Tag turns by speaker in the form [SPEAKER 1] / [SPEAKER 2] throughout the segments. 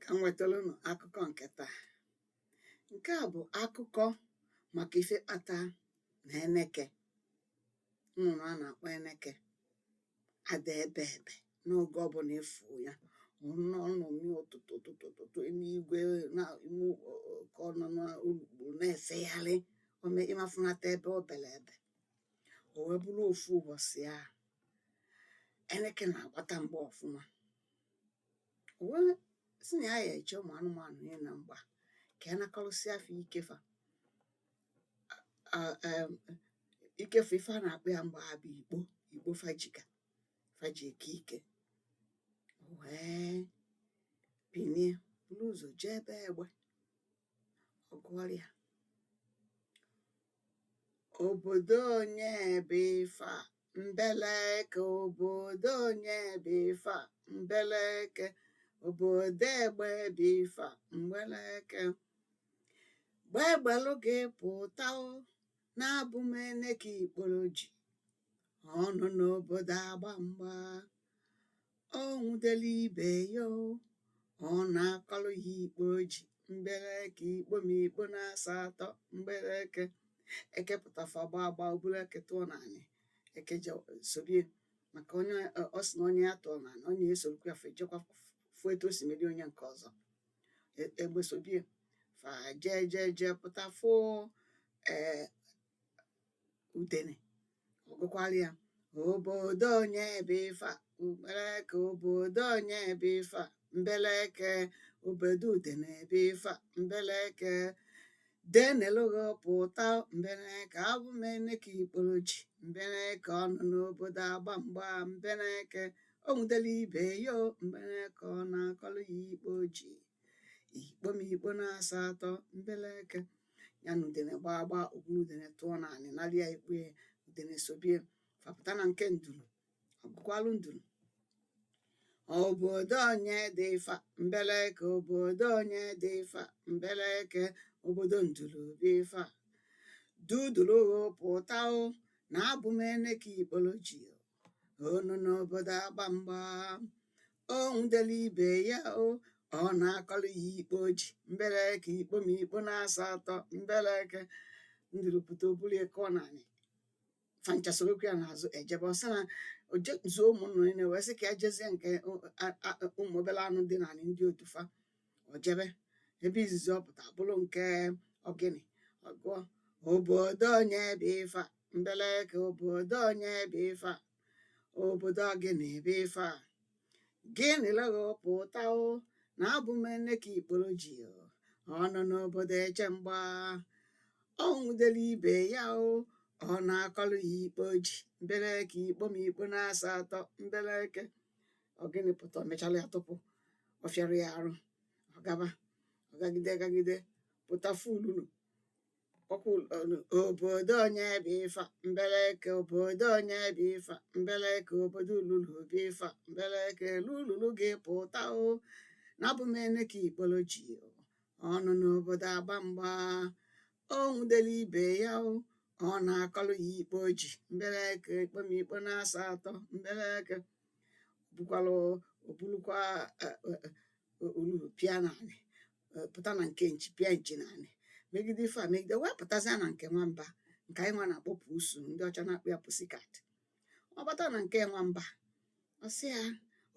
[SPEAKER 1] ka m wetara unu akụkọ nke taa nke a bụ akụkọ maka ife kpata na eneke nnụnụ a na-akpọ eneke ada ebe ebe n'oge ọbụla a fụ ya ọ nọ ọ nọ mmiri ụtụtụ ụtụtụ ụtụtụ n'igwe na ime ụwa ka ọ nọ n'urukpu na-efegharị ome ị ma fụnata ebe o bere ebe o wee bụrụ ofu ụbọchị ahụ eneke na-agbata mgba ọfụma o wee sị na ya ya eche ụmụ anụmanụ niile na mgba ka ya nakọrọsịa fa ike fa um um ike fa ife a na-akpọ ya mgbe ahụ bụ ikpo ikpo fa ji ka fa ji eke ike o wee binie buru ụzọ jee be egbe ọ gụọrọ ya Obodo onye bụ ife a? Mbeleke obodo onye bụ ife a? Mbeleke obodo egbe bụ ife a? Mbeleke gbegbelụ gị pụta o na abụ m Eneke ikporo ji ọ nọ n'obodo agba mgba o nwudelu ibe ya o ọ nakọlụ ya ikpo o ji mbeleke ikpo m ikpo na-asa atọ mbeleke eke pụta fa gba agba o buru eke tụọ n'anị eke je sobie maka onye ọ sị na onye ya tụọ n'anị onye ya esorokwa ya fa ejekwa fụ etu o si meri onye nke ọzọ E- egbe sobie fa jee jee jee pụta fụ ee udene ọ gụkwara ya obodo onye bụ ife a mbeleke obodo onye bụ ife a mbeleke obodo udene bụ ife a mbeleke denelụghị pụta mbeleke abụ m eneke ikporo ji mbeleke ọ nọ n'obodo agba mgba mbeleke o nwudelu ibe ya o mbeleke ọ nakọlụ ya ikpo o ji ikpo m ikpo na-asa atọ mbeleke ya na udene gbaa gbaa o buru udene tụọ n'anị nara ya ikpo ya udene sobie fa pụta na nke nduru ọ gụkwalụ nduru obodo onye dị ife a mbeleke obodo onye dị ife a mbeleke obodo nduru bụ ife a duduru gị pụta o na abụ m eneke ikporo ji ọ nọ n'obodo agba mgba o nwudelu ibe ya o ọ nakọlụ ya ikpo o ji mbeleke ikpo m ikpo na-asa atọ mbeleke nduru pụta o buru ya kụọ n'anị fa ncha sorokwa ya n'azụ ejebe ọ sị na o jezuo ụmụ nnụnụ niile wee sị ka ya jezie nke o- a- a- ụmụ obere anụ dị n'anị ndị otu fa ọ jebe ebe izizi ọ pụta bụrụ nke ogini ọ gụọ obodo onye bụ ife a mbeleke obodo onye bụ ife a obodo ogini bụ ife a gịnị lego pụta o na abụ m Eneke ikporo ji o ọ nọ n'obodo eche mgba o nwudelu ibe ya o ọ nakọlụ ya ikpo o ji mbeleke ikpo m ikpo na-asa atọ mbeleke ogini pụta o mechala ya tupu ọ fịara ya arụ ọ gaba ọ gagide gagide pụta fụ ululu ọkwa ụlọ obodo onye bụ ifa mbeleke obodo onye bụ ifa mbeleke obodo ululu bụ ifa mbeleke lululu gị pụta o na abụ m Eneke ikporo ji o ọ nọ n'obodo agba mgba o nwudelu ibe ya o ọ nakọrọ ya ikpo o ji mbeleke ikpo m ikpo na-asa atọ mbeleke bukwalu o bulukwa ululu pịa n'anị pụta na nke nchi pịa nchi n'anị megide ife a megide wee pụtazịa na nke nwamba nke anyị nwa na-akpọ pusu ndị ọcha na-akpọ ya pusikat ọ bata na nke nwamba ọ sị ya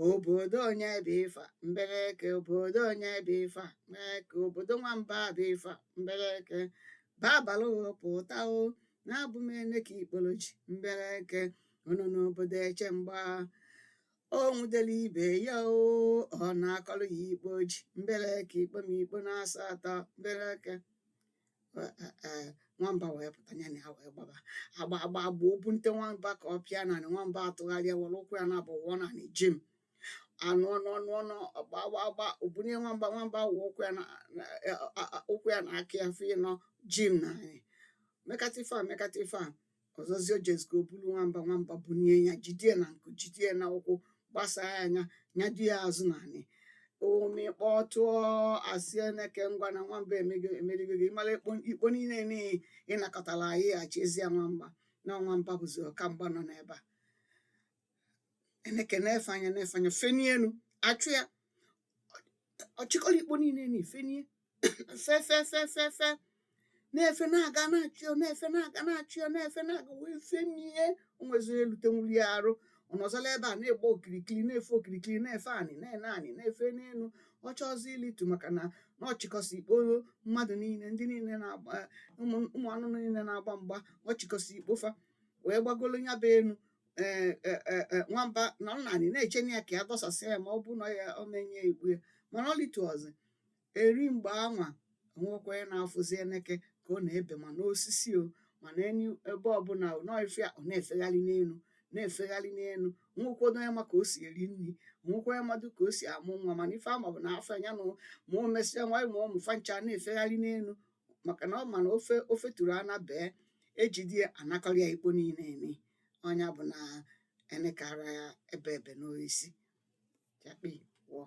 [SPEAKER 1] obodo onye bụ ife a mbeleke obodo onye bụ ife a mbeleke obodo nwamba bụ ife a mbeleke babalụ pụta o na abụ m Eneke ikporo ji mbeleke ọ nọ n'obodo eche mgba o nwudelu ibe ya o ọ nakọrọ ya ikpo o ji mbeleke ikpo m ikpo na-asa atọ mbeleke Ee, ee, ee, nwamba wee pụta ya na ya wee gbaba agba agba agba o bunite nwamba ka ọ pịa n'anị nwamba atụgharịa were ụkwụ ya naabọ wụọ n'anị jim anụọ nụọ nụọ nụọ agba agba agba o bunie nwamba nwamba wụ ụkwụ ya na na- eh, a- a- ụkwụ ya na aka ya fa ịnọ jim n'anị mekata ife a mekata ife a ọzọzi o jezigo o bulu nwamba nwamba bunie ya jidie na nku jidie na ụkwụ gbasaa ya anya nyado ya azụ n'anị omikpọ tụọ a sị Eneke ngwa na nwamba emego emerigo gị mara ikpo ikpo niile niile ị nakọtara anyị achịzie nwamba na nwamba bụzi ọkamgba nọ n'ebe a Eneke na-efe anya na-efe anya fenie enu a chụ ya ọ chịkọrọ ikpo niile na ifenie fe fe fe fe fe na-efe na-aga na-achụ ya na-efe na-aga na-achụ ya na-efe na-aga wee fenie o nweziri elute nwuli ya arụ ọ nọzọla ebe a na-egba okirikiri na-efe okirikiri na-efe anị na-ene anị na-efe n'elu ọ chọzi ilitu maka na na ọ chịkọsị ikpo mmadụ niile ndị niile na-agba ụmụ ụmụ anụ niile na-agba mgba ọ chịkọsị ikpo fa wee gbagolo ya bụ enu ee e, e, e, nwamba nọ naanị na-eche na ya ka ya dọsasị ya ma ọ bụ na ya o menye igbu ya mana ọ lituozi eri mgbe anwa o nwekwa onye na-afụzi eneke ka ọ na-ebe ma n'osisi o ma n'enu ebe ọbụla n'ọfịa ọ na-efegharị n'elu na-efegharị n'elu nwekwọdụ onye ma ka o si eri nri nwekwa onye madụ ka o si amụ nwa mana ife a ma bụ na afọ ya nụ ma o mesịa nwa ma ụmụ fa ncha na-efegharị n'elu maka na ọ ma na ofe o feturu ana bee e jide ya a nakọrọ ya ikpo niile eni ọ nya bụ na eneke ara ya ebe ebe n'oisi chakpi wọọ